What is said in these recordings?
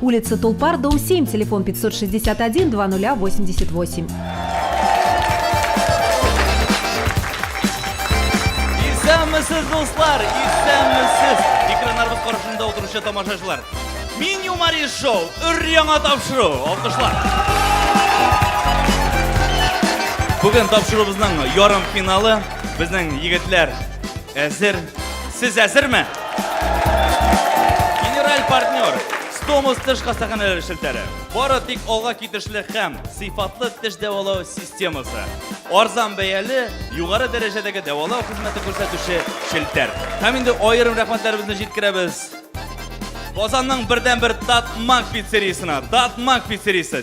Улица Тулпар, дом 7, телефон 561 2088. Исәнмесез, дуслар! Исәнмесез! Экраннарыбыз каршында отыручы тамашачылар. Мин Юмари шоу, өр яңа тапшыру. Алкышлар! Бүген тапшыруыбызның ярым финалы. Безнең егетләр әзер. Сез әзерме? Генераль партнер Стомус теш хастаханәләре челтәре. Бары тик алга китешле һәм сыйфатлы теш дәвалау системасы. Арзан бәяле, югары дәрәҗәдәге дәвалау хезмәте күрсәтүче челтәр. Һәм инде аерым рәхмәтләребезне җиткерәбез. Казанның бердәнбер Татмак пиццериясенә. Татмак пиццериясе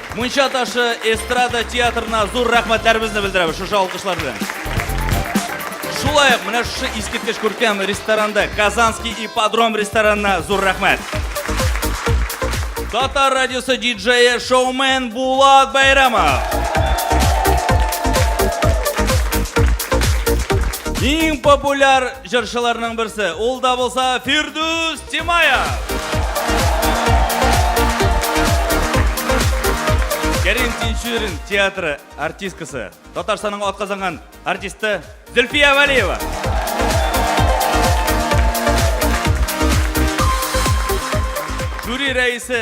Мунча ташы эстрада театрына зур рәхмәтләребезне белдерәбез шушы алкышлар белән. Шулай ук менә шушы искиткеч күркәм ресторанда Казанский ипподром ресторанына зур рәхмәт. Татар радиосы диджее шоумен Булат Байрамов. Иң популяр Җырчыларның берсе, ул да булса Фирдүс Тимаев. Кәрим Тинчурин театры артисткасы, Татарстанның атказанган артисты Зөлфия Вәлиева. Жюри рәисе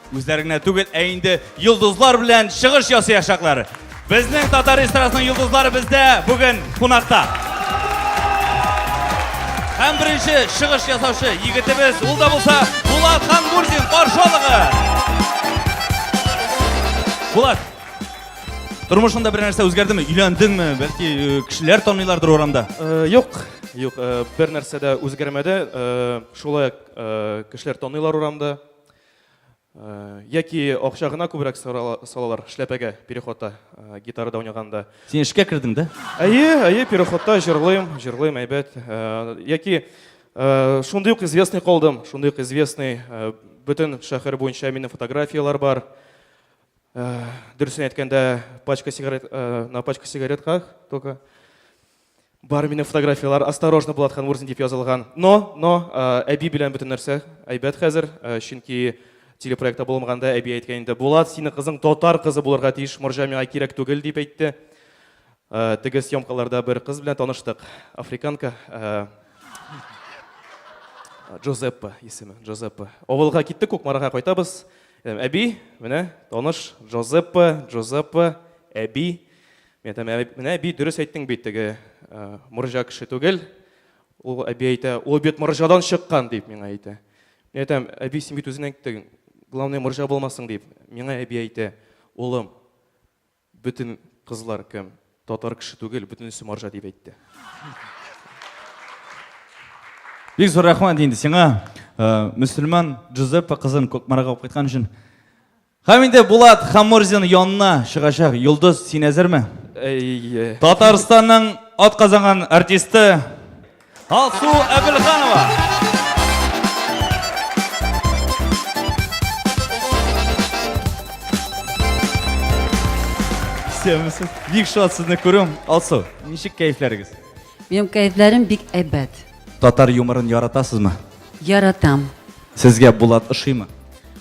Үзләре генә түгел, ә инде йолдызлар белән чыгыш ясыячаклар. Безнең татар эстрадасының йолдызлары бездә бүген кунакта. Һәм беренче чыгыш ясаучы егетебез, ул да булса Булат Хангурдин каршы алыгы. Булат, тормышыңда бер нәрсә үзгәрдеме? Өйләндеңме? Бәлки э, кешеләр таныйлардыр урамда? Э, юк, юк, э, бер нәрсә дә үзгәрмәде. Шулай кешеләр таныйлар урамда. Яки акча гына күбрәк салалар эшләпәгә переходта гитарада уйнаганда. Син эшкә кердең дә? Әйе, әйе, переходта җырлыйм, җырлыйм әйбәт. Яки шундый ук известный калдым, шундый ук известный, бөтен шәһәр буенча минем фотографияләр бар. Дөресен әйткәндә, пачка сигарет, на пачка сигаретках только. Бар минем фотографиялар, осторожно, Булат Ханмурзин дип язылган. Но, но, әби белән бөтен нәрсә әйбәт хәзер, чөнки телепроектта булмаганда әби әйткән инде, Булат, синең кызың татар кызы булырга тиеш, морҗа миңа кирәк түгел, дип әйтте. Теге съемкаларда бер кыз белән таныштык, африканка, Джозеппа исеме, Джозеппа. Авылга киттек, Кукмарага кайтабыз. Әби, менә таныш, Джозеппа, Джозеппа, әби. Мин әйтәм, ә менә әби дөрес әйттең бит, теге морҗа кеше түгел. Ул әби әйтә, ул бит морҗадан чыккан дип миңа әйтә. Мин әйтәм, әби син бит үзең әйттең, главное морҗа булмасын дип. Миңа әби әйтә, улым, бөтен кызлар кем? Татар кеше түгел, бөтенесе морҗа дип әйтте. Бик зур рәхмәт инде сиңа, мөселман Джузеппе кызын Кукмарага алып кайткан өчен. Һәм инде Булат Хамурзин янына чыгачак. Йолдыз, син әзерме? Әйе. Татарстанның атказанган артисты Алсу Әбелханова. Исәнмесез. Бик шат сезне күрүем. Алсу, ничек кәйфләрегез? Минем кәйфләрем бик әйбәт. Татар юморын яратасызмы? Яратам. Сезгә Булат ошыймы?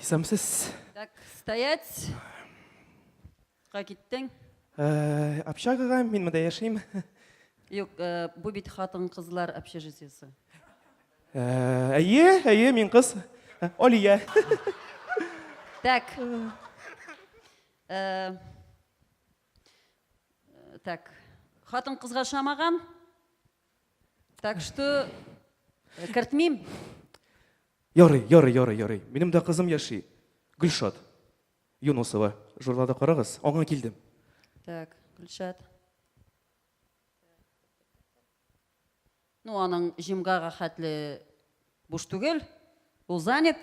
Исәмсез. Так, стоять. Ка киттең? Э, общагага мин монда яшим. Юк, э, бу бит хатын-кызлар общежитиесе. Э, әйе, әйе, мин кыз. Э, Алия. Так. Э, так. Хатын кызга шамаган. Так что э, кертмим. Ярый, ярый, ярый, ярый. Минем дә кызым яши. Гөлшат Юнусова. Журналда карагыз. Аңа килдем. Так, Гөлшат. Ну, аның җимгага хәтле Буш түгел, ул занят.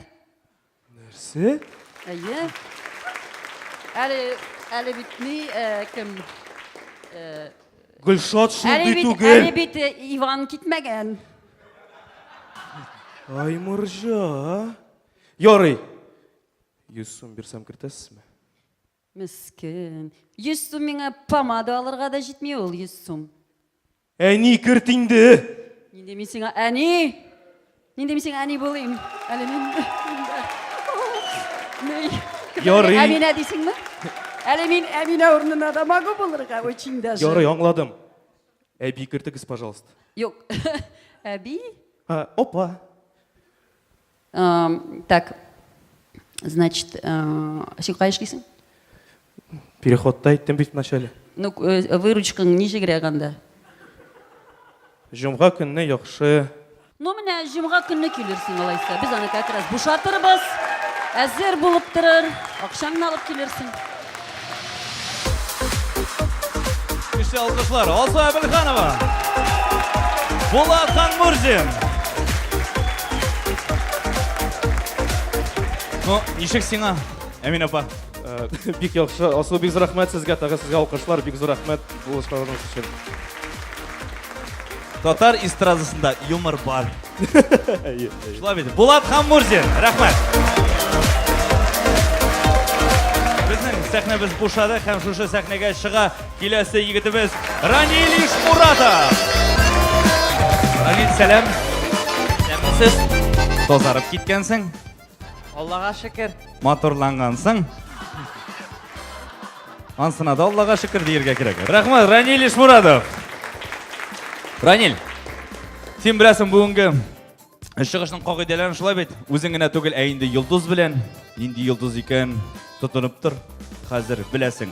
Нәрсә? Әйе. Әле, әле бит ни, э, кем? Э, Гөлшат шундый әле бит, түгел. әле бит э, Иван китмәгән. Ай, морҗа. Ярый. 100 сум бирсәм кертәсезме? Мескен. Йөз сум миңа помада алырга да җитми ул йөз сум. Әни, керт инде! Нинди мин сиңа әни? Нинди мин сиңа әни булыйм? Әле мин... Ярый. Әминә дисеңме? Әле мин Әминә урынына да могу булырга, очень даже. Ярый, аңладым. Әби, кертегез, пожалуйста. Юк. Әби? Апа. Um, так, значит, uh, син кая эшлисең? Переходта әйттем бит начале. Ну, э, выручкаң ничегрәк анда? Җомга көнне яхшы. Ну, менә җомга көнне килерсең алайса. Без аны как раз бушатырбыз. Әзер булып торыр. Акчаңны алып килерсең. Көчле алкышлар. Алсу Әбелханова. Булат Ханмурзин. Ну, ничек сиңа, Әмин апа? Э, бик яхшы. Асыл бик зур рәхмәт сезгә, тагы сезгә алкышлар. Бик зур рәхмәт булышканыгыз өчен. Татар эстрадасында юмор бар. Шулай бит. Булат Хаммурзин, рәхмәт. Безнең сәхнәбез бушады һәм шушы сәхнәгә чыга киләсе егетебез Ранил Ишмуратов. Ранил, сәлам. Сәмсез. Тозарып киткәнсең. Аллага шөкер. Матурлангансың. Ансына да Аллага шөкер диергә кирәк. Рәхмәт, Раниль Ишмурадов. Раниль, син беләсең бүгенге чыгышның кагыйдәләрен шулай бит. Үзең генә түгел, ә инде йолдыз белән. Нинди йолдыз икән тотынып тор. Хәзер беләсең.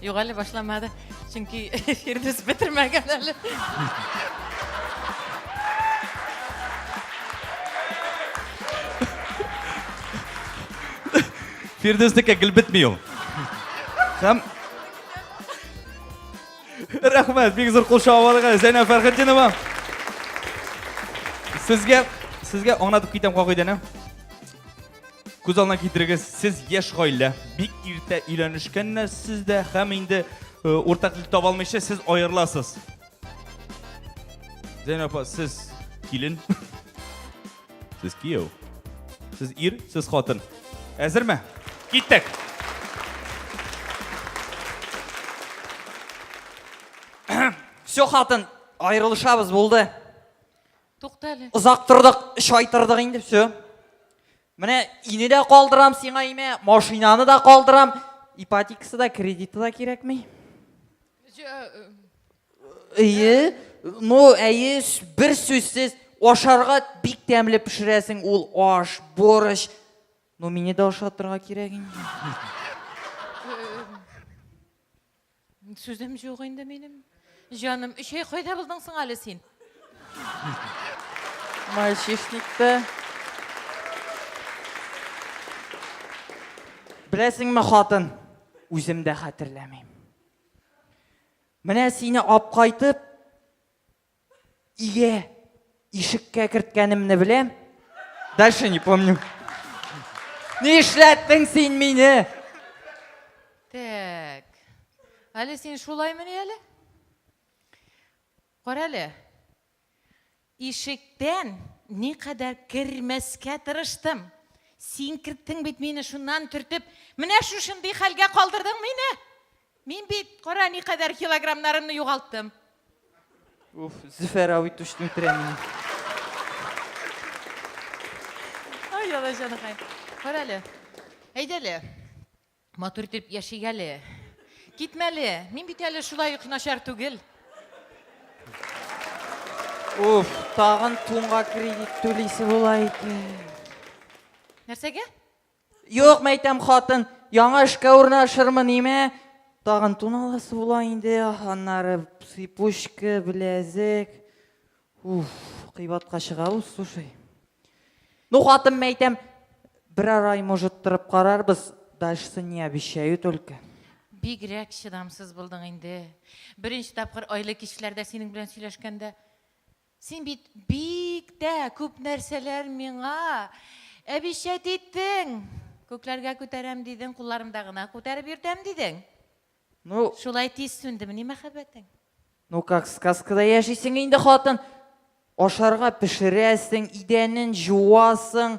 Юк әле башламады. Чөнки Фирдүс бетермәгән әле. Фирдүснеке гел бетми ул. Һәм Рәхмәт, бик зур кул шавалыгы Зәйнәб Фәрхетдинова. Сезгә сезгә аңлатып китәм кагыйдәне. Күз алдына китерегез, сез яшь гаилә, бик иртә өйләнешкәннәр сез дә һәм инде э, уртак тел таба алмыйча сез аерыласыз. Зәйнәп апа, сез килен. Сез кияү. Сез ир, сез хатын. Әзерме? Киттек. Все, хатын, аерылышабыз булды. Тукта әле. Озак тордык, шайтырдык инде, все. Менә ине дә калдырам сиңа имә, машинаны да калдырам, ипотекасы да, кредиты да кирәкми. Әйе, ну, әйе, бер сүзсез, ашарга бик тәмле пешерәсең ул аш, борщ. Ну, мине дә ашатырга кирәк инде. Сүзем җук инде минем. Җаным, өч ай кайда булдың соң әле син? Мальчишникта. Беләсеңме, хатын, үзем дә хәтерләмим. Менә сине апкайтып Ие, ишеккә керткәнемне беләм. Дальше не помню. Ни эшләттең син мине? Так. Әле син шулаймыни әле? Кара әле. Ишектән ни кадәр кермәскә тырыштым. Син керттең бит мине шуннан төртеп. Менә шушындый хәлгә калдырдың мине. Мин бит, кара, никадәр килограммнарымны югалттым. Уф, Зөфәр абый түшне үтерә мине. Ай, алаҗаныкай. Кара әле. Әйдә әле. Матур итеп яшик әле. Китмәле. Мин бит әле шулай ук начар түгел. Уф, тагын тунга кредит түлисе була икән. Нәрсәгә? Юк, мәйтәм, хатын, яңа эшкә урнашырмы, ниме? Тагын тун аласы була инде, аннары сыпучка, беләзек. Уф, кыйбатка чыга ул, слушай. Ну, хатын, мәйтәм, берәр ай, может, торып карарбыз, дальше не обещаю только. Бигрәк чыдамсыз булдың инде. Беренче тапкыр айлы кичләрдә синең белән сөйләшкәндә Син бит бик тә күп нәрсәләр миңа әбишәт иттең. Күкләргә күтәрәм дидең, кулларымда гына күтәреп йөртәм дидең. Ну. Шулай тиз сүндемени мәхәббәтең? Ну как сказкада яшисең инде, хатын. Ашарга пешерәсең, идәнен җуасың,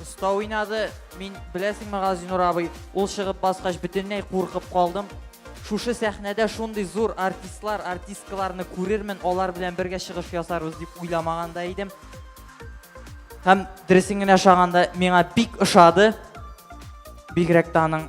Оста уйнады. Мин, беләсеңме, Газинур абый, ул чыгып баскач бөтенләй куркып калдым. Шушы сәхнәдә шундый зур артистлар, артисткаларны күрермен, алар белән бергә чыгыш ясарбыз дип уйламаган да идем. Һәм дөресен генә шаганда, миңа бик ошады. Бигрәк тә аның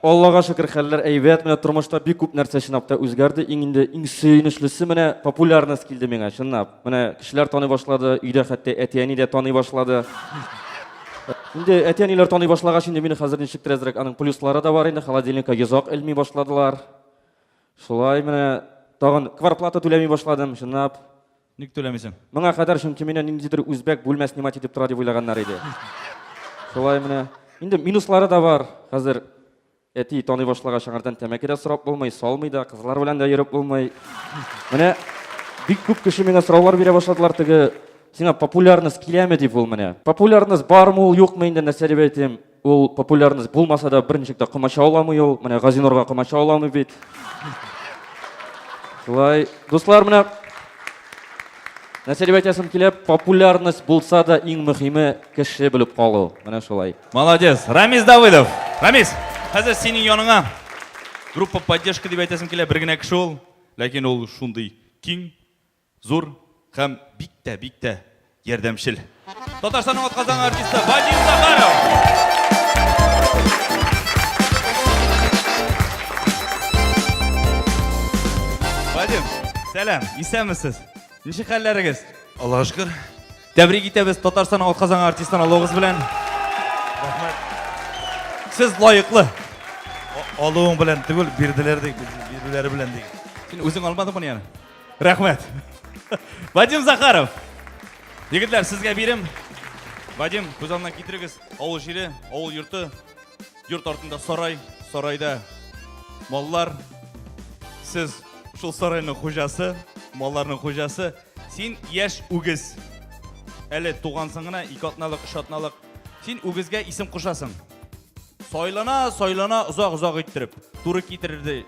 Аллага шөкер, хәлләр әйбәт. Менә тормышта бик күп нәрсә чынлап та үзгәрде. Иң инде иң сөенечлесе менә популярность килде миңа, чынлап. Менә кешеләр таный башлады, өйдә хәтта әти-әни дә таный башлады. Инде әти-әниләр таный башлагач, инде мине хәзер ничектер әзрәк аның плюслары да бар инде. Холодильникка йозак элми башладылар. Шулай менә тагын кварплата түләми башладым, чынлап. Ник түләмисең? Моңа кадәр чөнки мине ниндидер үзбәк бүлмә снимать итеп тора дип уйлаганнар иде. Шулай менә. Инде минуслары да бар. Хәзер әти таный башлагач, аңардан тәмәке дә сорап булмый, салмый да, кызлар белән дә йөреп булмый. Менә бик күп кеше миңа сораулар бирә башладылар теге Сиңа популярность киләме дип ул менә. Популярность бармы ул, юкмы инде, нәрсә дип әйтим. Ул популярность булмаса да, бер ничек тә комача аламый ул. Менә Газинурга комача аламый бит. Шулай, дуслар, менә Нәрсә дип әйтәсем килә, популярность булса да иң мөһиме кеше белеп калу. Менә шулай. Молодец. Рамис Давыдов. Рамис, хәзер синең яныңа группа поддержка дип әйтәсем килә, бер генә кеше ул, ләкин ул шундый киң, Зур һәм бик тә, бик тә ярдәмчел. Татарстанның атказан артисты Вадим Захаров. Вадим, сәлам, исәнмесез. Ничек хәлләрегез? Аллага шөкер. Тәбрик итәбез Татарстанның атказан артистын алуыгыз белән. Рәхмәт. Сез лаеклы. Алуың белән түгел, бирделәр ди, бирүләре белән ди. Син үзең алмадыңмы яна? Рәхмәт. Вадим Захаров. Егетләр, сезгә бирем. Вадим, күз алдына китерегез. Авыл җире, авыл йорты. Йорт артында сарай, сарайда маллар. Сез шул сарайның хуҗасы, малларның хуҗасы. Син яшь үгез. Әле тугансың гына, ике атналык, өч атналык. Син үгезгә исем кушасың. Сайлана, сайлана, озак-озак иттереп. Туры китерде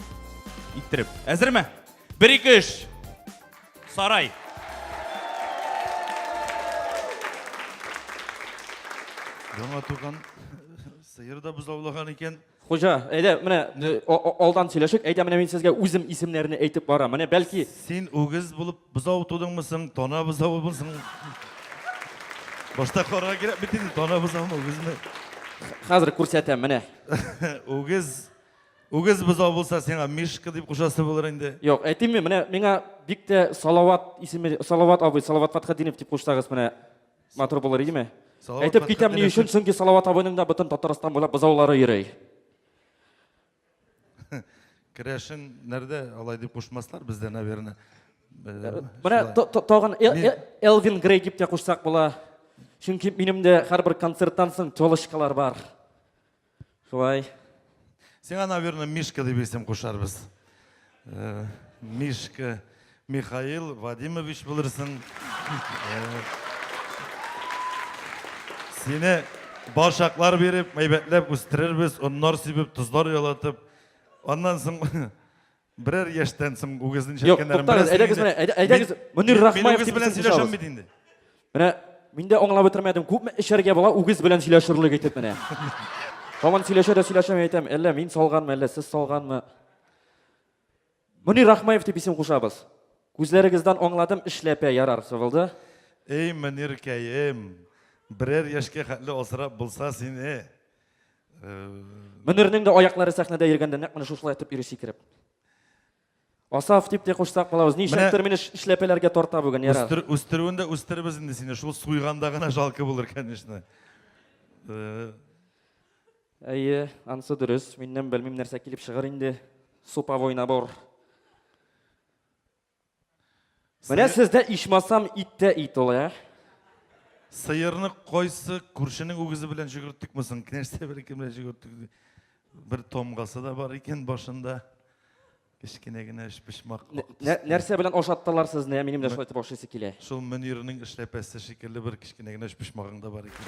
иттереп. Әзерме? Бер ике өч. Сарай. Яңа туган сыер да бозаулаган икән. Хуҗа, әйдә, менә алдан сөйләшик. Әйдә, менә мин сезгә үзем исемнәрне әйтеп бара. Менә бәлки Син үгез булып бозау тудыңмы соң, тана бозавы булсың. Башта карга кирәк бит инде, тана бозаумы, үгезме? Хәзер күрсәтәм, менә. Үгез Үгез бозау булса, сиңа Мишка дип кушасы булыр инде. Юк, әйтимме, менә миңа бик тә Салават исеме, Салават абый, Салават Фатхадинов дип кушсагыз, менә матур булыр идеме? Салават Әйтеп китәм ни өчен, чөнки Салават абыйның да бөтен Татарстан буйлап бозаулары йөри. Керәшен нәрдә алай дип кушмаслар бездә, наверное. Э, менә тагын э, э, Элвин Грей дип тә кушсак була. Чөнки минем дә һәрбер концерттан соң телочкалар бар. Шулай. Сиңа, наверное, Мишка дип исем кушарбыз. Э, Мишка Михаил Вадимович булырсың. Э, сине башаклар биреп, мәйбәтләп үстерербез, оннар сибеп, тозлар ялатып. Аннан соң Берәр яшьтән соң үгезне Юк, нишәткәннәрен туктагыз, беләсең әйдәгез инде. менә, әйдә- әйдәгез, Мин- Мөнир мин- Рахмаев Мин үгез дип белән исем сөйләшәм кушабыз. бит инде. Менә мин дә аңлап бетермәдем. Күпме эчәргә була үгез белән сөйләшерлек итеп менә. Һаман сөйләшә дә сөйләшә мин әйтәм, әллә мин салганмы, әллә сез салганмы? Мөнир Рахмаев дип исем кушабыз. Күзләрегездән аңладым, эшләпә ярар сывылды. Эй, Мөниркәем, берәр яшькә хәтле асрап булса сине. Мөнирнең дә аяклары сәхнәдә йөргәндә нәкъ менә шушылай итеп йөри сикереп. Асаф дип тә кушсак булабыз. Ничектер мине эшләпәләргә тарта бүген, ярар. Үстер, үстерүен дә үстеребез инде сине. Шул суйганда гына жалко булыр, конечно. Э. Әйе, ансы дөрес. Миннән белмим нәрсә килеп чыгар инде. Супа война бор. Менә Сыер- сездә ичмасам ит тә ит ул, ә? Сыерны кайсы күршенең үгезе белән җөгерттекме соң? Кнәшсә береке белән җөгерттек. ди. Бер тамгасы да бар икән башында. Кечкенә генә өч почмак. Нә- ак нә- төстә. Нәрсә белән ашаттылар сезне? Минем дә шулай итеп ашыйсы килә. Шул Мөнирнең эшләпәсе шикелле бер Кенә генә почмагың да бар икән.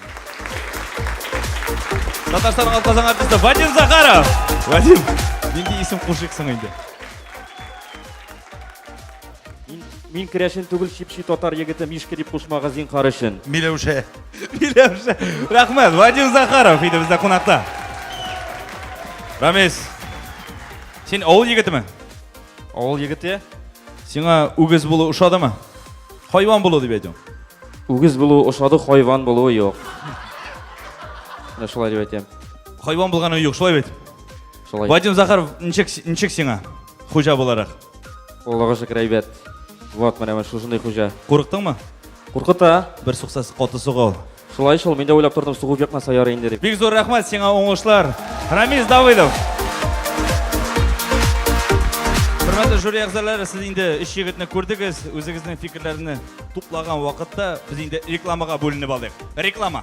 Татарстан Алказан артисты Вадим Захаров. Вадим, нинди исем кушыйксың инде? Мин керәшен түгел чипчи татар егете Мишка дип кушмага зинхар өчен. Миләүшә. Миләүшә. Рәхмәт, Вадим Захаров иде бездә кунакта. Рамис, син авыл егетеме? Авыл егете. Сиңа үгез булу ошадымы? Хайван булу дип әйтәм. Үгез булу ошады, хайван булу юк. Менә шулай дип әйтәм. Хайван булганы юк, шулай бит. Шулай. Вадим Захаров, ничек ничек сиңа хуҗа буларак? Аллага шөкер әйбәт. Вот менә шушындый хуҗа. Курыктыңмы? Куркыта. Бер суксасы каты сугыл. Шулай шул, мин дә уйлап тордым, сугып җакнаса ярый инде дип. Бик зур рәхмәт сиңа уңышлар. Рамис Давыдов. Хөрмәтле жюри әгъзалары, сез инде өч егетне күрдегез. Үзегезнең фикерләрне туплаган вакытта без инде рекламага бүленеп алдык. Реклама.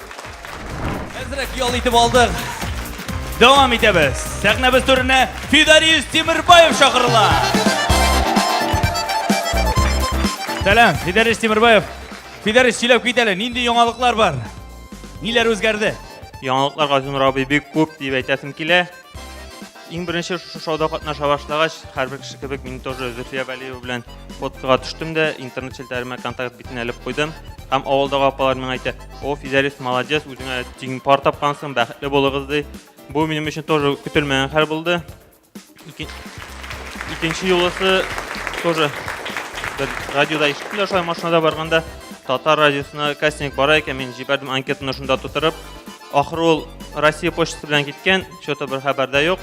Әзрәк ял итеп алдык. Дәвам итәбез. Сәхнәбез түренә Фидариус Тимербаев чакырыла. Сәлам, Фидариус Тимербаев. Фидариус сөйләп кит әле, нинди яңалыклар бар? Ниләр үзгәрде? Яңалыклар Газинур абый бик күп дип әйтәсем килә. Иң беренче шушы шоуда катнаша башлагач, һәрбер кеше кебек мин тоже Зөфия Вәлиева белән фоткага төштем дә, интернет челтәремә контакт битен әлеп куйдым. Һәм авылдагы апалар миңа әйтә, "О, Физәлис молодец, үзеңә тиң пар тапкансың, бәхетле булыгыз" ди. Бу минем өчен тоже көтелмәгән хәл булды. Икенче юлысы тоже бер радиода ишеттем дә, шулай машинада барганда татар радиосына кастинг бара икән, мин җибәрдем анкетаны шунда тутырып. Ахыры ул Россия почтасы белән киткән, что-то бер хәбәрдә юк.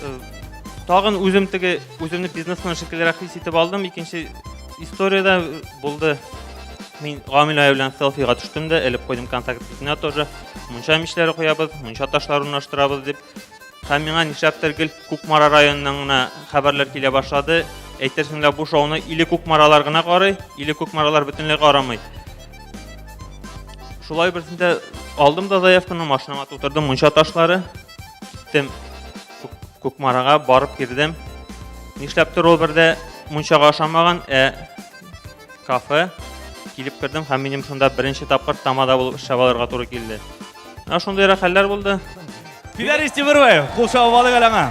Э, тагын үзем теге үземне бизнесмен шикеллерәк хис итеп алдым. Икенче историядә э, булды. Мин Гамилә белән селфига төштем дә, элеп куйдым контакт итенә тоже. Мунча мичләре куябыз, мунча ташларын урнаштырабыз дип. Һәм миңа нишләптер гел Кукмара районыннан гына хәбәрләр килә башлады. Әйтерсең лә бу шоуны или Кукмаралар гына карый, или Кукмаралар бөтенләй карамый. Шулай берсендә алдым да заявканы, машинама тутырдым мунча ташлары. Тем Кукмарага барып кирдем. Нишләптер ул бердә мунчага ашамаган, ә кафе килеп кердем һәм минем шунда беренче тапкыр тамада булып эшләп алырга туры килде. Менә шундыйрак хәлләр булды. Фидарис Тимербаев, кул чабып алыйк әле аңа.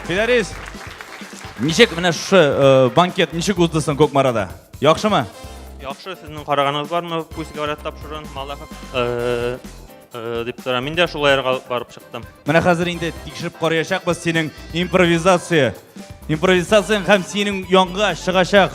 Фидарис, ничек менә шушы э, банкет ничек узды соң Кукмарада? Яхшымы? Яхшы, сезнең караганыгыз бармы? Пусть говорят тапшырын, Малахов. Э, э, дип тора. Мин дә шулай ярга барып чыктым. Менә хәзер инде тикшереп караячакбыз синең импровизация. Импровизацияң һәм синең янга чыгачак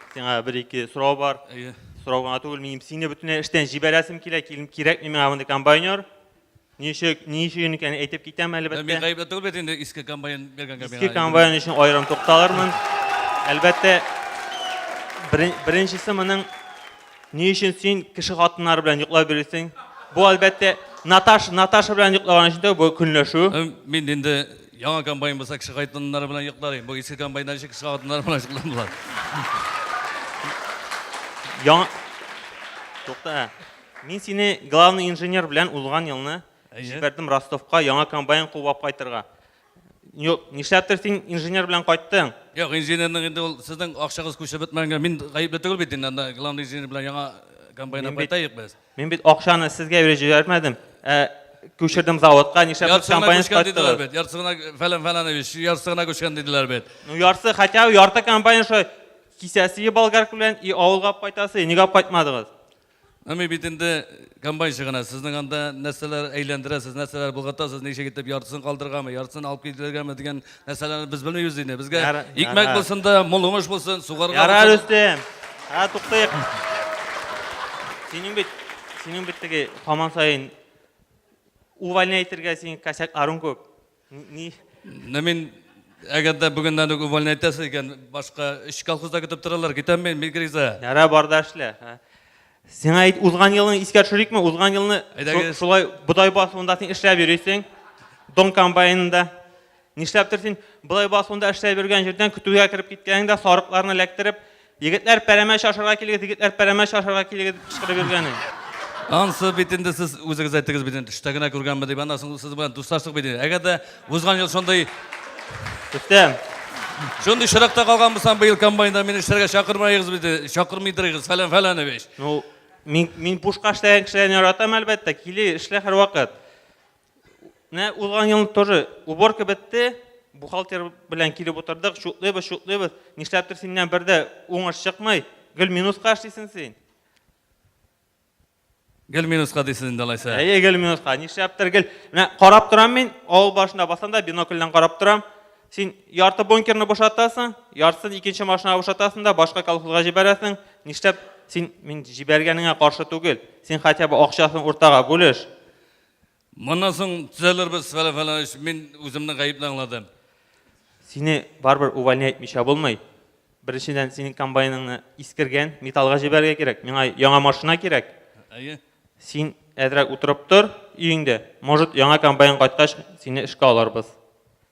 Сиңа бер-ике сорау бар. Әйе. Сорау гына түгел, минем сине бөтенләй эштән җибәрәсем килә, килем кирәкми миңа мондый комбайнер. Ничек, ни өчен икән әйтеп китәм әлбәттә. Мин гаепле түгел бит инде иске комбайн биргәнгә миңа. Иске комбайн өчен аерым тукталырмын. Әлбәттә, беренчесе моның ни өчен син кеше хатыннары белән йоклап йөрисең? Бу әлбәттә Наташ, Наташа белән йоклаган өчен дә бу көнләшү. Мин инде Яңа комбайн булса, кеше кайтыннар белән йоклар. Бу иске комбайннар өчен кеше хатыннар белән йокламыйлар. Яңа... Тукта. Мин сине главный инженер белән узган елны җибәрдем Ростовка яңа комбайн куып кайтырга. Юк, нишләптер син инженер белән кайттың? Юк, инженерның инде ул сезнең акчагыз күчеп бетмәгәнгә мин гаепле түгел бит инде. Главный инженер белән яңа комбайнга кайтайык без. Мин бит акчаны сезгә биреп җибәрмәдем, ә күчердем заводка, нишләп Ярсыгына компания күчкән диделәр кайттыгыз? бит. Ярсыгына фәлән фәләнович, ярсыгына күчкән диделәр бит. Ну ярсы, хотя бы ярты компания шо кисәсе и болгарка белән, и авылга алып кайтасы, нигә алып кайтмадыгыз? Ну мин бит инде комбайнчы гына. Сезнең анда нәрсәләр әйләндерәсез, нәрсәләр болгатасыз, ничек итеп яртысын калдыргамы, яртысын алып килергәме дигән Мәсәлән, без белмибез инде. Безгә Яра- икмәк яра. булсын да, мул уңыш булсын, сугарга. Ярар, булсын. Рөстем. Ә туктыйк. Синең бит, синең бит теге һаман саен увольняй итергә синең косяк арың күп. Н- Ни? Менә мин әгәр дә бүгеннән үк увольня итәсе икән, башка өч колхозда көтеп торалар, китәм мин, мин криза. Ярар, бар да эшлә. а. Сиңа әйт, узган елны искә төшерикме? Узган елны шулай бодай басуында син эшләп йөрисең. Дон комбайнында. Нишләптер син бодай басуында эшләп йөргән җирдән көтүгә кереп киткәнеңдә сарыкларны эләктереп, егетләр пәрәмә чашырга килегез, егетләр пәрәмә чашырга килегез дип кычкырып йөргәнең. Ансы бит инде сез үзегез әйттегез бит инде төштә генә күргәнме дип, аннан соң сез белән дуслаштык бит инде. Әгәр дә Узган ел шундый Бетте. Шундый чиракта калган булсам, быел комбайнда мине эшләргә чакырмагыз бит, чакырмыйдырыгыз, фәлән фәләнович. Ну, мин, мин пушка эшләгән кешеләрне яратам, әлбәттә, кили, эшлә һәрвакыт. Менә узган ел тоже уборка бетте, бухгалтер белән килеп утырдык, чутлыйбыз, чутлыйбыз. Нишләптер синнән бер дә уңыш чыкмый, гел минуска эшлисең син. Гел минуска дисез инде алайса. Әйе, гел минуска. Нишләптер гел. Менә карап торам мин, авыл башында басам да бинокльдән карап торам. Син ярты бункерны бушатасың, яртысын икенче машинага бушатасың да башка колхозга җибәрәсең. Нишләп син мин җибәргәнеңә каршы түгел. Син хотя бы акчасын уртага бүлеш. Моннан соң төзәлербез, фәлән, фәлән, өчен мин үземне гаепле аңладым. Сине барыбер увольня итмичә булмый. Беренчедән, синең комбайныңны искергән, металлга җибәрергә кирәк. Миңа яңа машина кирәк. Әйе. Син әзрәк утырып тор өеңдә. Может, яңа комбайн кайткач, сине эшкә алырбыз.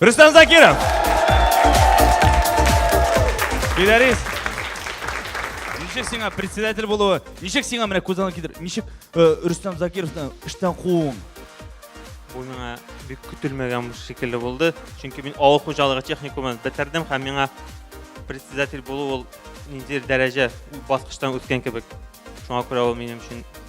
Рустам Закиров! Гитарист! Ничек сиңа председатель булуы? Ничек сиңа менә күз алдына китер? Ничек э, Рустам Закировны эштән кууың? Бу миңа бик көтелмәгән шикелле булды. Чөнки мин авыл хуҗалыгы техникумын бетердем һәм миңа председатель булу ул ниндидер дәрәҗә баскычтан үткән кебек. Шуңа күрә ул минем өчен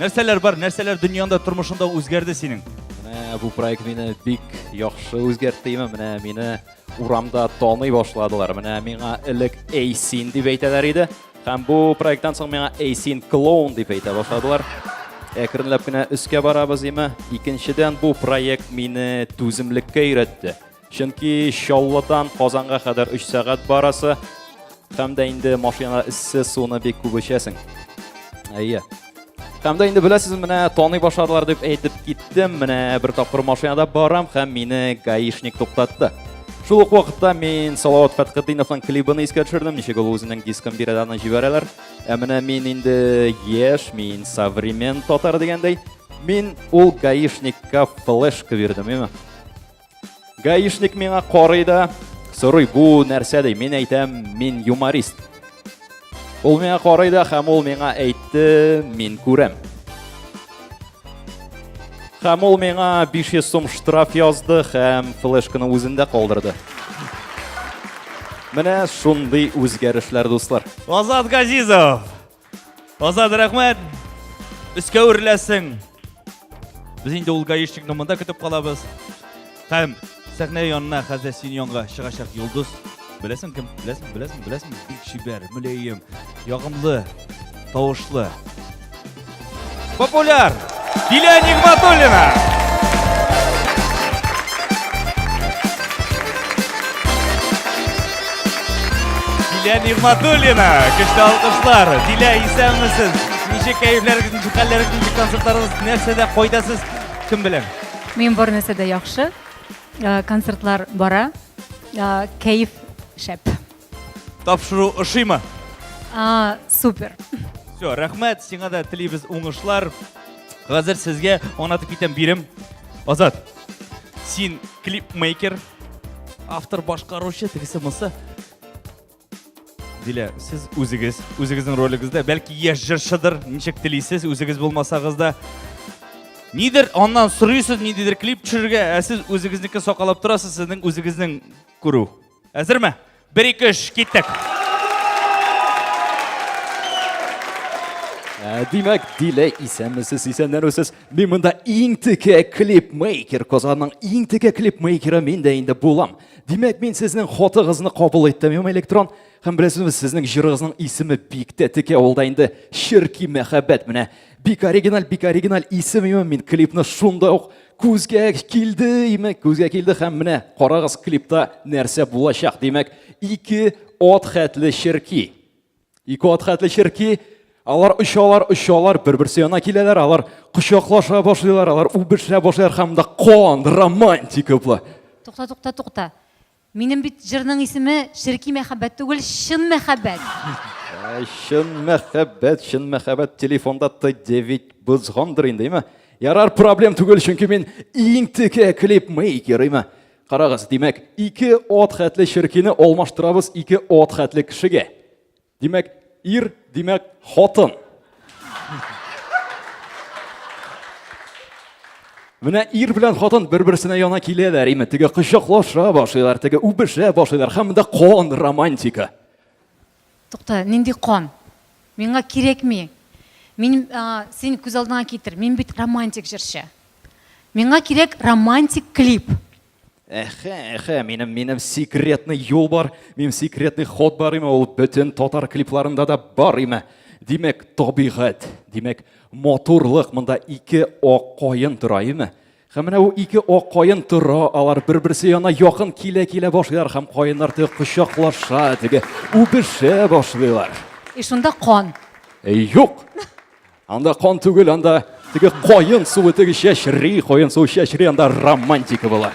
Нәрсәләр бар, нәрсәләр дөньяңда, тормышыңда үзгәрде синең? Менә бу проект мине бик яхшы үзгәртте, имә, менә мине урамда таный башладылар. Менә миңа элек Эйсин дип әйтәләр иде. Һәм бу проекттан соң миңа Эйсин клоун дип әйтә башладылар. Әкренләп кенә өскә барабыз, имә. Икенчедән, бу проект мине түземлеккә өйрәтте. Чөнки Чаллыдан Казанга кадәр 3 сәгать барасы һәм дә инде машина эссе суны бик күп эчәсең. Әйе. Һәм дә инде беләсез, менә таный башладылар дип әйтеп киттем. Менә бер тапкыр машинада барам һәм мине гаишник туктатты. Шул ук вакытта мин Салават Фәтхетдиновның клибын искә төшердем, ничек ул үзенең дискын бирәдә аны җибәрәләр. Ә менә мин инде яшь, мин современ татар дигәндәй, мин ул гаишникка флешка бирдем, именно. Гаишник миңа карый да, сорый, бу нәрсә ди? Мин әйтәм, мин юморист. Ул миңа карый да һәм ул миңа әйтте, мин күрәм. Һәм ул миңа 500 сум штраф язды һәм флешканы үзендә калдырды. Менә шундый үзгәрешләр, дуслар. Азат Газизов, Азат, рәхмәт! Өскә үрләсең! Без инде ул гаишникны монда көтеп калабыз. Һәм сәхнә янына хәзер син янга чыгачак Йолдыз. Беләсең кем? Беләсең, беләсең, беләсең? Бик чибәр, мөләем, ягымлы, тавышлы. Популяр! Диля Нигматуллина! Диля Нигматуллина! Көчле алкышлар! Диля, исәнмесез! Ничек кәйефләрегез, хәлләрегез, ничек концертларыгыз, нәрсәдә кайдасыз? Кем белән? Мин бар нәрсәдә яхшы. Э, Концертлар бара. Э, Кәеф шәп. Тапшыру ошыймы? А, супер. Все, рәхмәт, сиңа да телибез уңышлар. Хәзер сезгә аңлатып китәм бирем. Азат, син клипмейкер, автор башкаручы, тегесе монсы. Дилә, сез үзегез, үзегезнең ролигезда, бәлки яшь җырчыдыр, ничек телисез, үзегез булмасагыз да. Нидер аннан сорыйсыз, ниндидер клип төшерергә, ә сез үзегезнеке сакалап торасыз, сезнең үзегезнең күрү. Әзерме? Бер, ике, өч, киттек. Ә, Димәк, Дилә исәнмесез, исәнләнүсез. Мин монда иң теге клипмейкер, Казанның иң теге клипмейкеры мин дә инде булам. Димәк, мин сезнең хатыгызны кабул иттем, ем электрон. Һәм беләсезме, сезнең җырыгызның исеме бик тә теге, ул да инде Ширки мәхәббәт менә. Бик оригиналь, бик оригиналь исем, ем мин клипны шунда ук Күзгә килде, имек, күзгә килде һәм менә карагыз клипта нәрсә булачак. Димәк, ике от хәтле ширки. Ике от хәтле ширки. Алар очалар, очалар, бер-берсе янына киләләр, алар кочаклаша башлыйлар, алар үбешә башлыйлар һәм да кон, романтика була. Тукта, тукта, тукта. Минем бит җырның исеме Черки мәхәббәт түгел, чын мәхәббәт. Чын мәхәббәт, чын мәхәббәт телефонда Т9 бозгандыр инде, әйме? Ярар, проблем түгел, чөнки мин иң текә клип мейкер, әйме? Карагыз, димәк, ике от хәтле черкине алмаштырабыз ике от хәтле кешегә. Димәк, ир, димәк, хатын. Менә ир белән хатын бер-берсенә яна киләләр, име, теге кочаклаша башлыйлар, теге үбешә башлыйлар, һәм монда кон романтика. Тукта, нинди кон? Миңа кирәкми. Мин а, син күз алдыңа китер. Мин бит романтик җырчы. Миңа кирәк романтик клип. Әхә, әхә, минем минем секретный юл бар, минем секретный ход бар име, ул бөтен татар клипларында да бар име. Димәк, табигать, димәк, матурлык монда ике ак каен тора име? Һәм менә ул ике ак каен тора, алар бер-берсе яна якын килә-килә башлыйлар һәм каеннар теге кочаклаша, теге үбешә башлыйлар. И шунда кан. Юк. Анда кан түгел, анда теге коен суы теге чәчри, коен суы чәчри, анда романтика була.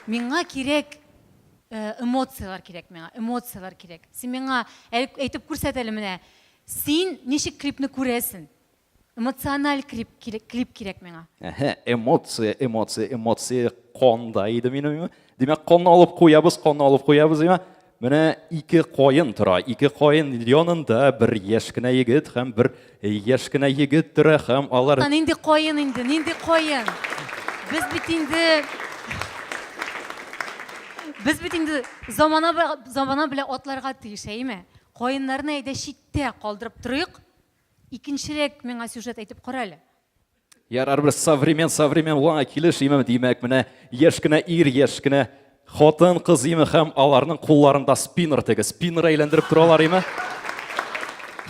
Миңа кирәк э, эмоцияләр кирәк миңа, эмоцияләр кирәк. Син миңа әйтеп күрсәт әле менә, син ничек клипны күрәсең? Эмоциональ клип, клип кирәк миңа. Әһә, эмоция, эмоция, эмоция конда иде минем. Димәк, конны алып куябыз, конны алып куябыз, димәк. Менә ике коен тора. Ике коен янында бер яшь кенә егет һәм бер яшь кенә егет тора һәм алар Нинди коен инде, нинди коен? Без бит инде Без бит инде замана замана белән атларга тиеш, әйеме? Коеннарны әйдә читтә калдырып торыйк. Икенчерәк миңа сюжет әйтеп кара әле. Ярар бер современ современ ваңа килеш имем димәк менә яшь кенә ир яшь кенә хатын кыз име һәм аларның кулларында спиннер теге спиннер әйләндереп торалар име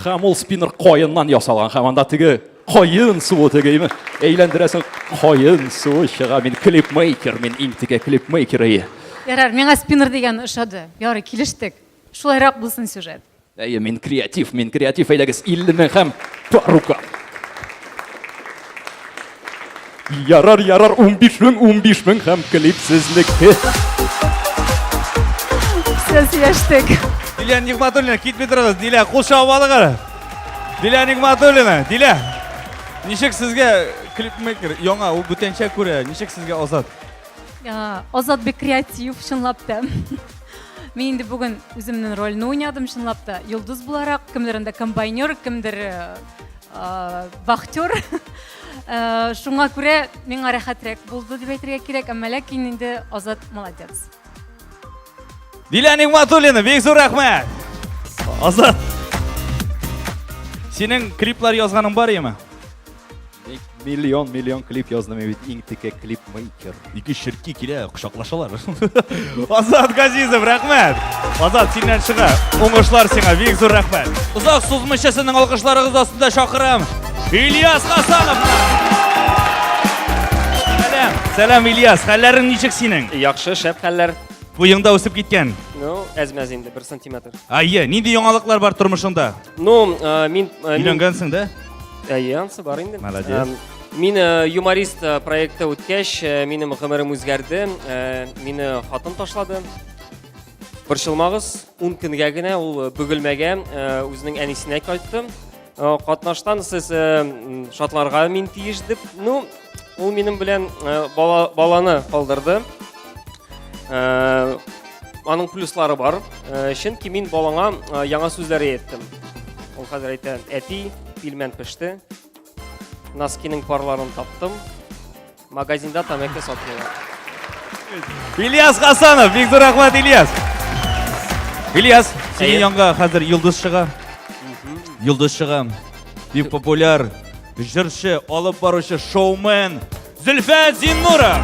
һәм ул спиннер каеннан ясалган һәм анда теге каен суы теге име әйләндерәсең каен суы чыга мин клипмейкер мин иң теге клипмейкер әйе ярар миңа спиннер дигән ошады ярый килештек шулайрак булсын сюжет Әйе, мин креатив, мин креатив, әйдәгез, Ильнур һәм Парука. Ярар, ярар, 15 мең, 15 мең һәм клип сезнеке. Сез яштек. Диля Нигматуллина, китми торыгыз, Диля, кул чабып алыгыз. Диля Нигматуллина, Диля. Ничек сезгә клипмейкер, яңа, ул бүтәнчә күрә, ничек сезгә азат? Азат бик креатив, чынлап та. Мин инде бүген үземнең рольне уйнадым, чынлап та. Йолдыз буларак, кемдер анда комбайнер, кемдер вахтер. Шуңа күрә миңа рәхәтрәк булды дип әйтергә кирәк, әмма ләкин инде Азат молодец. Дилә Нигматуллина, бик зур рәхмәт. Азат. Синең клиплар язганың бар яме? Миллион, миллион клип яздым бит, иң текә клип мейкер. Ике ширки килә, кочаклашалар. Азат Газизов, рәхмәт. Азат, синнән чыга. Уңышлар сиңа, бик зур рәхмәт. Озак сузмыйча сезнең алкышларыгыз астында чакырам. Ильяс Хасанов. Сәлам, сәлам Ильяс, хәлләрең ничек синең? Яхшы, шәп хәлләр. Буеңда үсеп киткән. Ну, әзмәз инде, бер сантиметр. Айе, нинди яңалыклар бар тормышыңда? Ну, э, мин... Э, Өйләнгәнсең дә? Әйе, ансы бар инде. Молодец. Мин э, юморист проекты үткәч, минем гомерем үзгәрде. Мине хатын ташлады. Борчылмагыз, 10 көнгә генә ул бөгелмәгә үзенең әнисенә кайтты. Катнаштан сез шатларга мин тиеш дип, ну, ул минем белән баланы калдырды. Э, аның плюслары бар. Э, чөнки мин балаңа э, яңа сүзләр әйттем. Ул хәзер әйтә, әти, пилмән пеште. Носкиның парларын таптым. Магазинда тәмәке сатмыйлар. Ильяс Хасанов, бик зур рәхмәт Ильяс. Ильяс, синең янга хәзер Йолдыз чыга. Йолдыз чыга. Бик популяр җырчы, алып баручы, шоумен, Зөлфә Зиннура!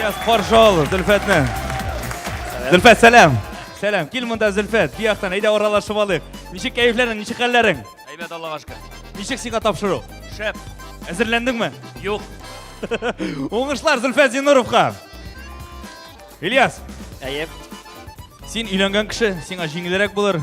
Yes, каршы ал, Зөлфәтне. Зөлфәт, сәлам. Сәлам, кил монда, Зөлфәт. Бу яктан, әйдә аралашып алыйк. Ничек кәефләрең, ничек хәлләрең? Әйбәт, Аллага шөкер. Ничек сиңа тапшыру? Шәп. Әзерләндеңме? Юк. Уңышлар Зөлфәт Зиннуровка. Ильяс. Әйе. Син өйләнгән кеше, сиңа җиңелрәк булыр.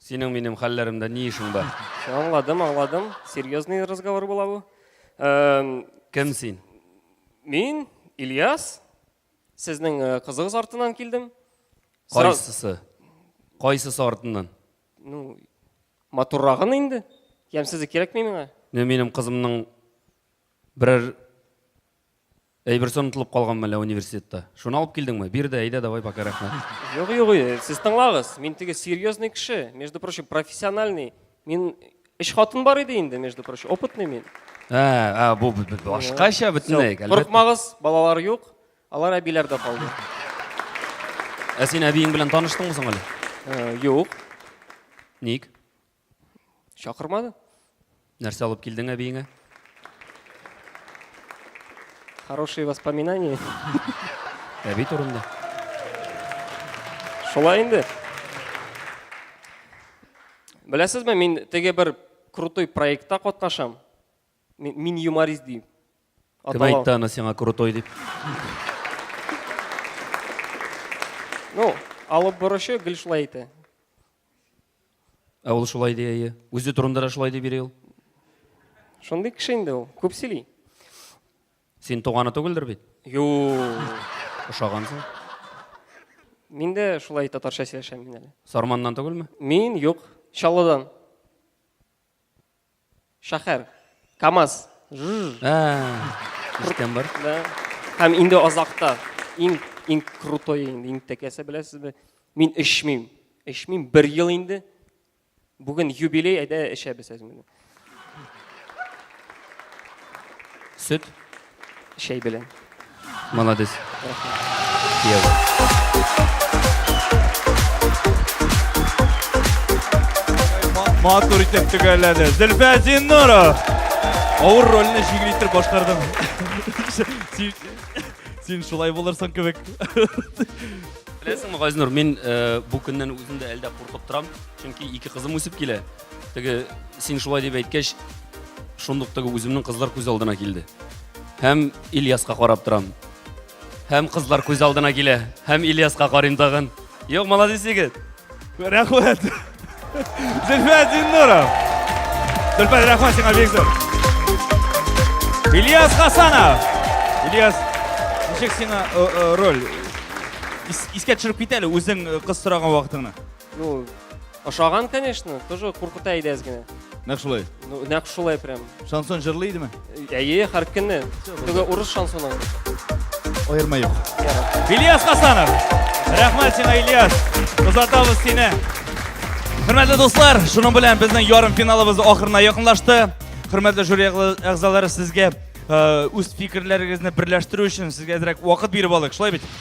Синең минем хәлләремдә ни эшең бар? Аңладым, аңладым. Серьезный разговор була бу. Кем син? Мин Ильяс. Сезнең э, кызыгыз артыннан килдем. Кайсысы? Кайсысы артыннан? Ну, матуррагын инде. Ямсызы кирәкми миңа. Менә минем кызымның берәр Әйберсе онытылып калганмы әллә университетта? Шуны алып килдеңме? Бир дә, әйдә, давай, пока, рәхмәт. Юк, юк, э, сез тыңлагыз. Мин теге серьезный кеше, между прочим, профессиональный. Мин өч хатын бар иде инде, между прочим, опытный мин. Ә, ә, бу бу- бу башкача бөтенләй. әлбәттә. Курыкмагыз, балалар юк, алар әбиләрдә калды. Ә син әбиең белән таныштыңмы соң әле? Э, Юк. Ник? Чакырмады? Нәрсә алып килдең әбиеңә? Хорошие воспоминания. Әби турында. Шулай инде. Беләсезме, мин теге бер крутой проектта катнашам. Мин юморист дим. Кем әйтте аны сиңа крутой дип? Ну, алып борычы гел шулай әйтә. Ә ул шулай ди, әйе. Үзе турында да шулай дип йөри ул. Шундый кеше инде ул, күп сөйли. Син туганы түгелдер бит? Ю. Ошагансың. Мин дә шулай татарча сөйләшәм мин әле. Сарманнан түгелме? Мин юк, Чаллыдан. Шәһәр. КАМАЗ. Жжж. Ә, ишеткән бар. Да. Һәм инде азакта иң иң крутой инде иң тәкәсе беләсезме? Мин эчмим. Эчмим бер ел инде. Бүген юбилей, әйдә эчәбез әзер. Сөт. Чәй белән. Молодец. Матур итеп төгәлләде. Зөлфә Зиннуров. Авыр рольне җиңел итеп башкардың. Син шулай булырсың кебек. Беләсеңме, Газнур, мин э, бу көннән үзем дә әлдә куркып торам, чөнки ике кызым үсеп килә. Теге син шулай дип әйткәч, шундук теге үземнең кызлар күз алдына килде. Һәм Ильяска карап торам. Һәм кызлар күз алдына килә. Һәм Ильяска карыйм тагын. Юк, молодец егет. Рәхмәт. Зөлфә Зиннуров. Зөлфә, рәхмәт сиңа бик зур. Ильяс Хасанов. Ильяс, ничек сиңа э, э, роль? Ис- Искә төшереп кит әле үзең э, кыз сораган вакытыңны. Ну, Ошаган, конечно, тоже куркыта иде әз генә. Нәкъ шулай. Ну, нәкъ шулай прям. Шансон җырлый идеме? Әйе, һәр көнне. Теге урыс шансоны. Аерма юк. Ильяс Хасанов. Рәхмәт сиңа, Ильяс. Озатабыз сине. Хөрмәтле дуслар, шуның белән безнең ярым финалыбыз ахырына якынлашты. Хөрмәтле жюри әгъзалары, сезгә э, үз фикерләрегезне берләштерү өчен сезгә әзрәк вакыт биреп алдык. Шулай бит?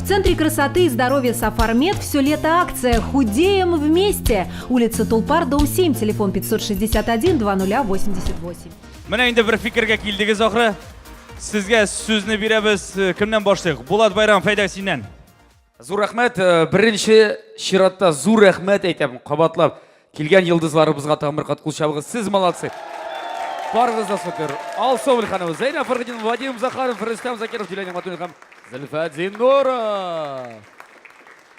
В Центре красоты и здоровья Сафармед все лето акция «Худеем вместе». Улица Тулпар, дом 7, телефон 561 2088. Менә инде бер фикергә килдегез ахры. Сезгә сүзне бирәбез. Э, кемнән башлыйк? Булат Байрам, фәйдә синнән. Зур рәхмәт. Э, беренче чиратта зур рәхмәт әйтәм, кабатлап. Килгән йылдызларыбызга тагын бер кат кул чабыгыз. Сез молодцы. Барыгыз да супер. Алсу Мөлханова, Зәйнә Фәрхетдин, Вадим Захаров, Рөстәм Закиров, Дилә Нигматуллин һәм Зөлфәт Зиннуров.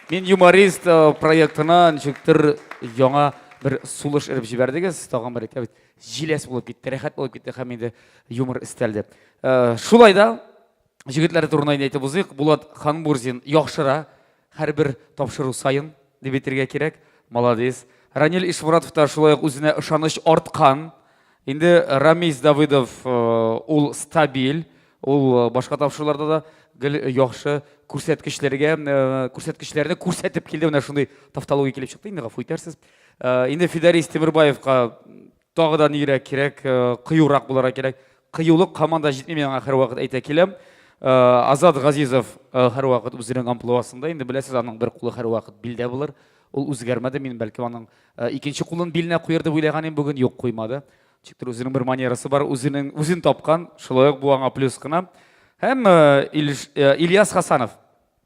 Мин юморист э, проектына ничектер яңа бер сулыш эреп җибәрдегез. Тагын бер әйтәбез. Җиләс булып китте, рәхәт булып китте һәм инде юмор истәлде. Э, Шулай да Җегетләре турында инде әйтеп узыйк. Булат Ханбурзин яхшыра һәрбер тапшыру саен дип әйтергә кирәк. Молодец. Ранил Ишмуратов та шулай ук үзенә ышаныч арткан. Инде Рамис Давыдов э, ул стабиль, ул э, башка тапшыруларда да гел яхшы күрсәткечләргә э, күрсәткечләрне күрсәтеп килде. Менә шундый тавтология килеп чыкты инде, гафу итәрсез. Инде Фидарис Тимербаевка Тагы да нигрәк кирәк, э, кыюрак буларак кирәк. Кыюлык команда җитми, мин аңа һәрвакыт әйтә киләм. Э, Азат Газизов э, һәрвакыт үзенең амплуасында, инде беләсез, аның бер кулы һәрвакыт билдә булыр. Ул үзгәрмәде, мин бәлки аның э, икенче кулын биленә куер дип уйлаган идем, бүген юк куймады. Ничектер үзенең бер манерасы бар, үзенең үзен тапкан, шулай ук бу аңа плюс кына. Һәм э, Ильш- э, Ильяс Хасанов.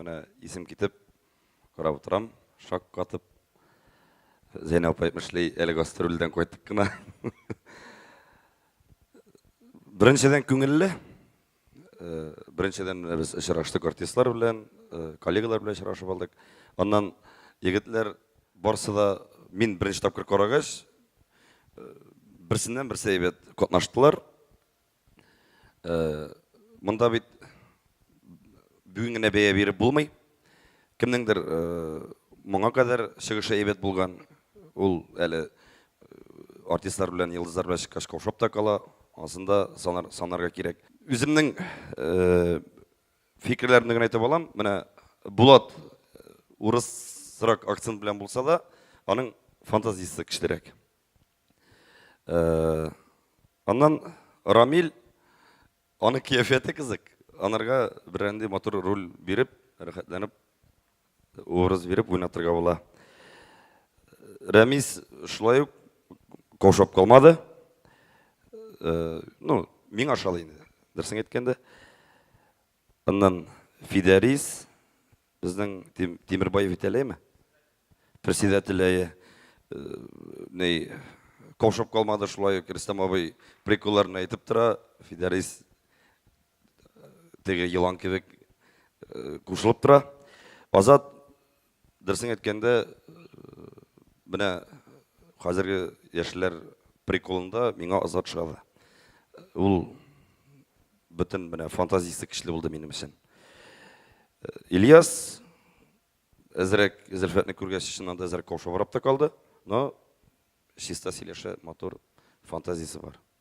Менә исем китеп, карап утырам, шаккатып. Зәйнә апа әйтмешли, әле гастрольдән кайтып кына. Беренчедән күңелле. Э, Беренчедән менә без очраштык артистлар белән, э, коллегалар белән очрашып алдык. Аннан егетләр барсы да мин беренче тапкыр карагач, э, берсеннән берсе әйбәт катнаштылар. Э, монда бит бүген генә бәя биреп булмый. Кемнеңдер э, моңа кадәр чыгышы әйбәт булган, ул әле э, артистлар белән, йолдызлар белән чыккач каушап та кала, асында санар, санарга кирәк. Үземнең э, фикерләремне генә әйтеп алам. Менә Булат урысрак акцент белән булса да, аның фантазиясе көчлерәк. Э, аннан Рамиль, аны кияфәте кызык, анарга берәнди матур роль биреп, рәхәтләнеп образ биреп уйнатырга була. Рәмис шулай ук каушап калмады. Э, ну, миңа ошады инде, дөресен әйткәндә. Аннан Фидәрис, безнең Тимербаев Витәләйме? Председатель, әйе. Ни, каушап калмады шулай ук Рөстәм абый приколларын әйтеп тора. Фидәрис теге елан кебек кушылып тора. Азат Дөресен әйткәндә, менә хәзерге яшьләр приколында миңа Азат шагы. Ул бөтен менә фантазиясе көчле булды минем өчен. Ильяс әзрәк Зөлфәтне күргәч, чыннан да әзрәк каушабрак та калды, но чиста сөйләшә, матур фантазиясе бар.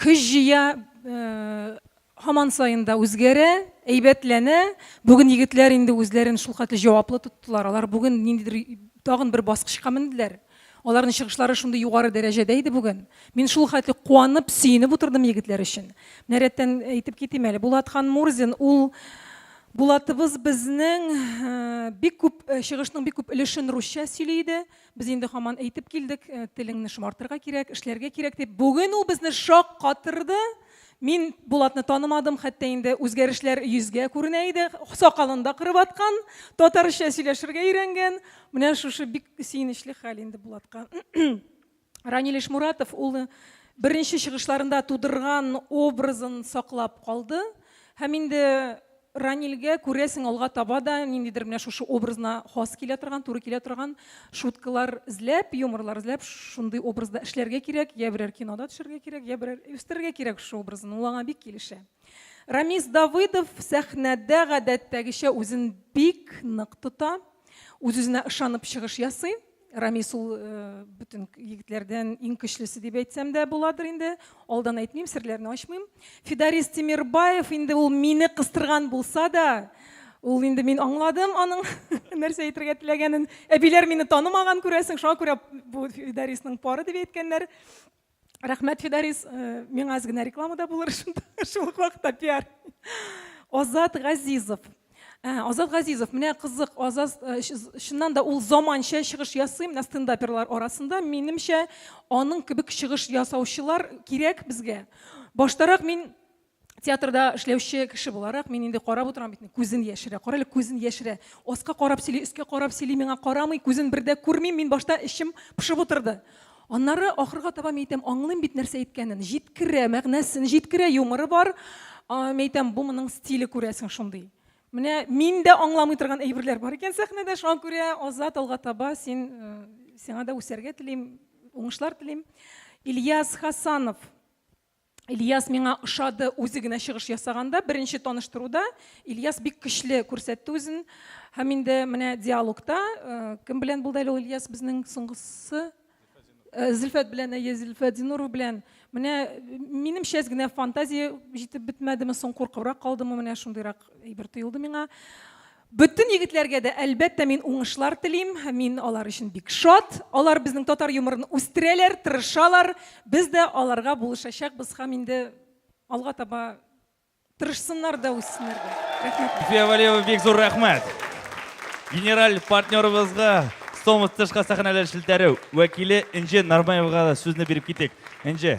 Көч җыя, һаман саен да үзгәрә, әйбәтләнә. Бүген егетләр инде үзләрен шулкадәр җаваплы тоттылар. Алар бүген ниндидер тагын бер баскычка менделәр. Аларның чыгышлары шундый югары дәрәҗәдә иде бүген. Мин шул хәтле куанып, сөенеп утырдым егетләр өчен. Менә рәттән әйтеп китим әле. Булат Ханмурзин ул Булатыбыз безнең бик күп чыгышның бик күп өлешен русча сөйли иде. Без инде хаман әйтеп килдек, э, телеңне шомартырга кирәк, эшләргә кирәк дип. Бүген ул безне шаккатырды. Мин Булатны танымадым, хәтта инде үзгәрешләр йөзгә күренә иде. Сакалын да кырып аткан, татарча сөйләшергә өйрәнгән. Менә шушы бик сөенечле хәл инде Булатка. Ранил Ишмуратов ул беренче чыгышларында тудырган образын саклап калды һәм инде Ранилгә, күрәсең, алга таба да ниндидер менә шушы образына хас килә торган, туры килә торган шуткалар эзләп, юморлар эзләп, шундый образда эшләргә кирәк, я берәр кинода төшәргә кирәк, я берәр үстерергә кирәк шушы образын, ул аңа бик килешә. Рамис Давыдов сәхнәдә гадәттәгечә үзен бик нык тота, үз-үзенә ышанып чыгыш ясый. Рамис ул э, бөтен егетләрдән иң көчлесе дип әйтсәм дә буладыр инде. Алдан әйтмим, серләрне ачмыйм. Фидарис Тимирбаев инде ул мине кыстырган булса да, ул инде мин аңладым аның нәрсә әйтергә теләгәнен. Әбиләр мине танымаган күрәсең, шуңа күрә бу Фидарисның пары дип әйткәннәр. Рәхмәт, Фидарис. Э, миңа аз генә реклама да булыр шунда, шул ук вакытта пиар. Азат Газизов. Э, Азат Газизов, менә кызык, Азат, э, чыннан да ул заманча чыгыш ясый, менә стендаперлар арасында, минемчә, аның кебек чыгыш ясаучылар кирәк безгә. Баштарак мин театрда эшләүче кеше буларак мин инде карап утырам бит күзен яшерә кара әле күзен яшерә аска карап сөйли өскә карап сөйли миңа карамый күзен бер дә күрмим мин башта эчем пошып утырды аннары ахырга таба мин әйтәм аңлыйм бит нәрсә әйткәнен җиткерә мәгънәсен җиткерә юморы бар мин әйтәм бу моның стиле күрәсең шундый менә мин дә аңламый торган әйберләр бар икән сәхнәдә шуңа күрә азат алга таба син э, сиңа да үсәргә телим уңышлар телим ильяс хасанов Ильяс миңа ошады, үзе генә чыгыш ясаганда, беренче таныштыруда Ильяс бик көчле күрсәтте үзен. Һәм инде менә диалогта э, кем белән булды әле ул Ильяс безнең соңгысы? Э, Зөлфәт белән, әйе, Зөлфәт Зинуров белән. Менә минем шәз генә фантазия җитеп бетмәдеме, соң куркыбрак калдымы, менә шундыйрак әйбер тоелды миңа. Бөтен егетләргә дә, әлбәттә, мин уңышлар телим. Мин алар өчен бик шат. Алар безнең татар юморын үстерәләр, тырышалар. Без дә аларга булышачакбыз һәм инде алга таба тырышсыннар да, үссеннәр дә. Рәхмәт. Зөфия Вәлиева, бик зур рәхмәт! Генераль партнерыбызга, Стомус тышка сәхнәләр челтәре вәкиле Энҗе Нармаевага да сүзне биреп китик. Энҗе.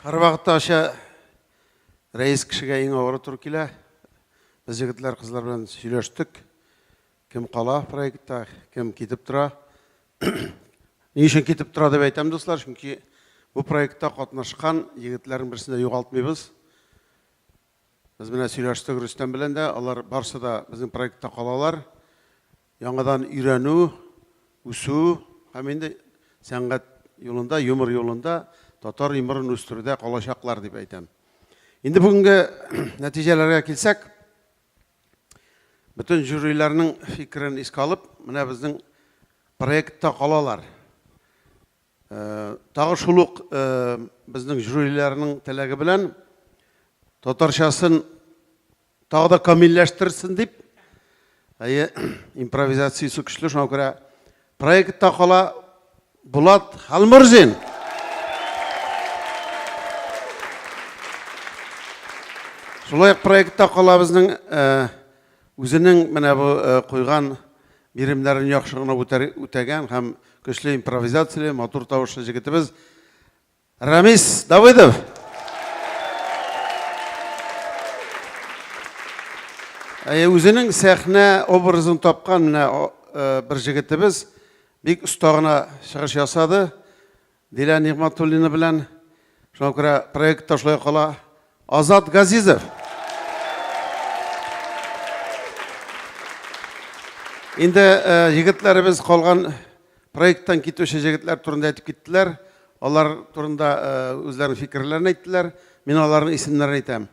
Һәрвакытта ача рәис кешегә иң авыры туры килә. Без егетләр, кызлар белән сөйләштек. Кем кала проектта, кем китеп тора. Ни өчен китеп тора дип әйтәм, дуслар, чөнки бу проектта катнашкан егетләрнең берсен дә югалтмыйбыз. Без менә сөйләштек Рөстәм белән дә, алар барсы да безнең проектта калалар. Яңадан өйрәнү, үсү һәм инде сәнгать юлында, юмор юлында татар юморын үстерүдә калачаклар дип әйтәм. Инде бүгенге нәтиҗәләргә килсәк, бөтен жюриләрнең фикерен искә алып, менә безнең проектта калалар. Э, тагы шул ук э, безнең жюриләрнең теләге белән татарчасын Тагы да камилләштерсен дип, әйе, импровизациясе көчле, шуңа күрә проектта кала Булат Халмурзин. Шулай ук проектта кала безнең үзенең менә бу куйган биремнәрен яхшы гына үтәгән һәм көчле импровизацияле, матур тавышлы җегетебез Рамис Давыдов. Әйе, үзенең сәхнә образын тапкан менә э, бер җегетебез бик оста гына чыгыш ясады. Дилә Нигматуллина белән шуңа күрә проект ташлай кала. Азат Газизов. Инде егетләребез калган проекттан китүче җегетләр турында әйтеп киттеләр. Алар турында үзләренең фикерләрен әйттеләр. Мин аларның исемнәрен әйтәм.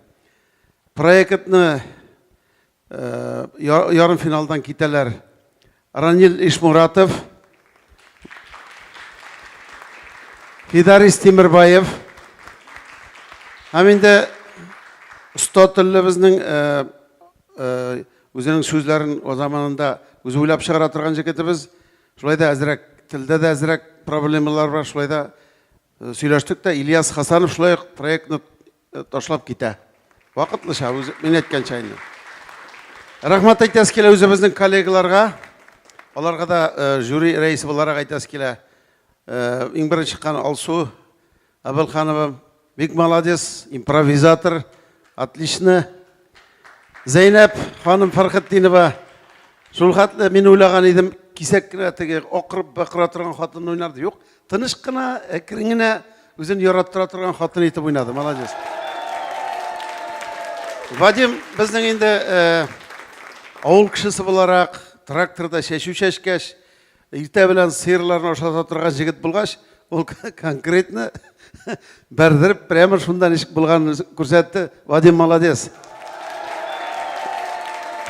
Проектны Ярымфиналдан китәләр. Ранил Ишмуратов, Фидарис Тимербаев һәм инде оста телебезнең үзенең сүзләрен үз заманында үзе уйлап чыгара торган җегетебез. Шулай да әзрәк телдә дә әзрәк проблемалар бар. Шулай да сөйләштек тә Ильяс Хасанов шулай ук проектны э, ташлап китә. Вакытлыча, үзе, мин әйткәнчә инде. Рәхмәт әйтәс килә үзебезнең коллегаларга. Аларга да э, жюри рәисе буларак әйтәс килә. Э, иң беренче чыккан Алсу Абелханова бик молодец, импровизатор, отлично. Зәйнәп ханым Фархетдинова шул хәтле мин уйлаган идем, кисәк кенә теге акырып бакыра торган хатын уйнарды. Юк, Тыныш кына, әкрен генә үзен яраттыра торган хатын итеп уйнады. Молодец. Вадим, безнең инде э, авыл кешесе буларак тракторда чәчү чәчкәч, иртә белән сыерларны ашата торган җегет булгач, ул конкретно бәрдереп прямо шунда ничек булганын күрсәтте. Вадим молодец.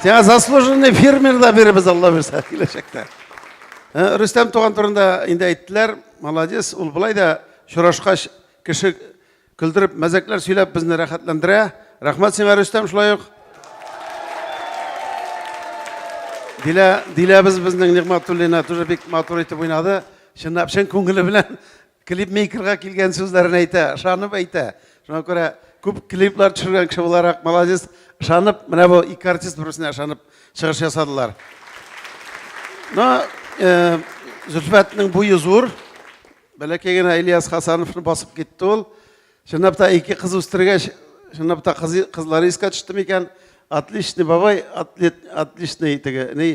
Сиңа заслуженный фермер да биребез Алла бирсә киләчәктә. Э, Рөстәм туган турында инде әйттеләр. Молодец, ул былай да шурашкач кеше көлдереп, мәзәкләр сөйләп безне рәхәтләндерә. Рәхмәт сиңа Рөстәм шулай ук. Дилә, Диләбез безнең Нигъмәтуллина тоже бик матур итеп уйнады. Чынлап чын күңеле белән Клипмейкерга килгән сүзләрен әйтә, ышанып әйтә. Шуңа күрә күп клиплар төшергән кеше буларак, молодец, ышанып, менә бу ике артист берсенә ышанып чыгыш ясадылар. Но э, Зөлфәтнең буе зур. Бәләкәй генә Ильяс Хасановны басып китте ул. Чынлап та ике кыз үстергәч, чынлап та кыз, кызлары искә төште микән? Отличный бабай, отличный теге, ни,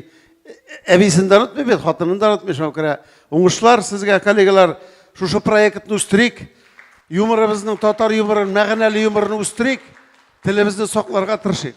әбисен дә онытмый бит, хатынын да онытмый, шуңа күрә уңышлар сезгә, коллегалар, шушы проектны үстерик, юморыбызның татар юморын, мәгънәле юморын үстерик, телебезне сакларга тырышыйк.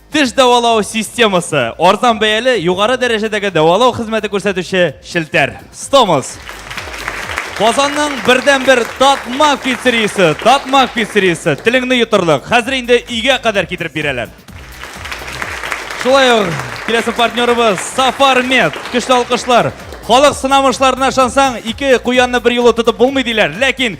Теш дәвалау системасы. Арзан бәяле, югары дәрәҗәдәге дәвалау хезмәте күрсәтүче челтәр. Стомос. Казанның бердән бер татма пиццериясе, татма пиццериясе. Телеңне йотырлык. Хәзер инде өйгә кадәр китереп бирәләр. Шулай ук киләсе партнерыбыз Сафармед. Көчле алкышлар. Халык сынамышларына ышансаң, ике куянны бер юлы тотып булмый диләр. Ләкин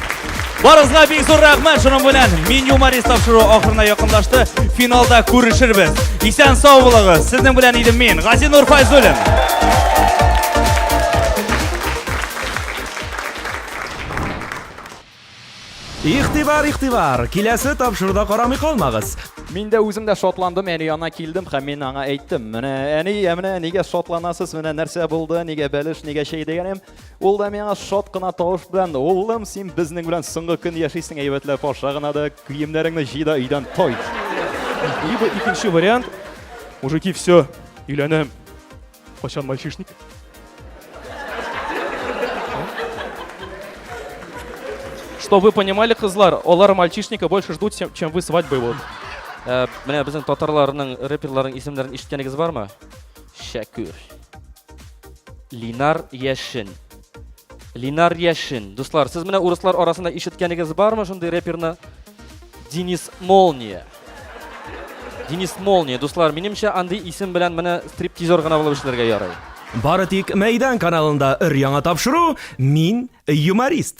Барысына бик зур рәхмәт шуның белән. Мин юморист тапшыру ахырына якынлашты. Финалда күрешербез. Исән сау булыгыз. Сезнең белән идем мин, Гази Нурфайзуллин. Ихтибар, ихтибар! Киләсе тапшыруда карамый калмагыз. Мин дә үзем дә шатландым, әни янына килдем һәм мин аңа әйттем. Менә әни, ә менә нигә шатланасыз, менә нәрсә булды, нигә бәлеш, нигә чәй дигәнем. Ул да миңа шат кына тавыш белән, улым, син безнең белән соңгы көн яшисең, әйбәтләп аша гына да, киемнәреңне җый да өйдән тайт. Либо икенче вариант, мужики, все, өйләнәм. Качан мальчишник? Что вы понимали, кызлар, алар мальчишника больше ждут, чем вы свадьбы вот. Э, менә безнең татарларның рэперларның исемнәрен ишеткәнегез бармы? Шәкүр. Линар Яшин. Линар Яшин. Дуслар, сез менә урыслар арасында ишеткәнегез бармы шундый реперны? Денис Молния. Денис Молния. Дуслар, минемчә андый исем белән менә стриптизер гына булып эшләргә ярый. Бары тик Мәйдан каналында өр-яңа тапшыру Мин юморист.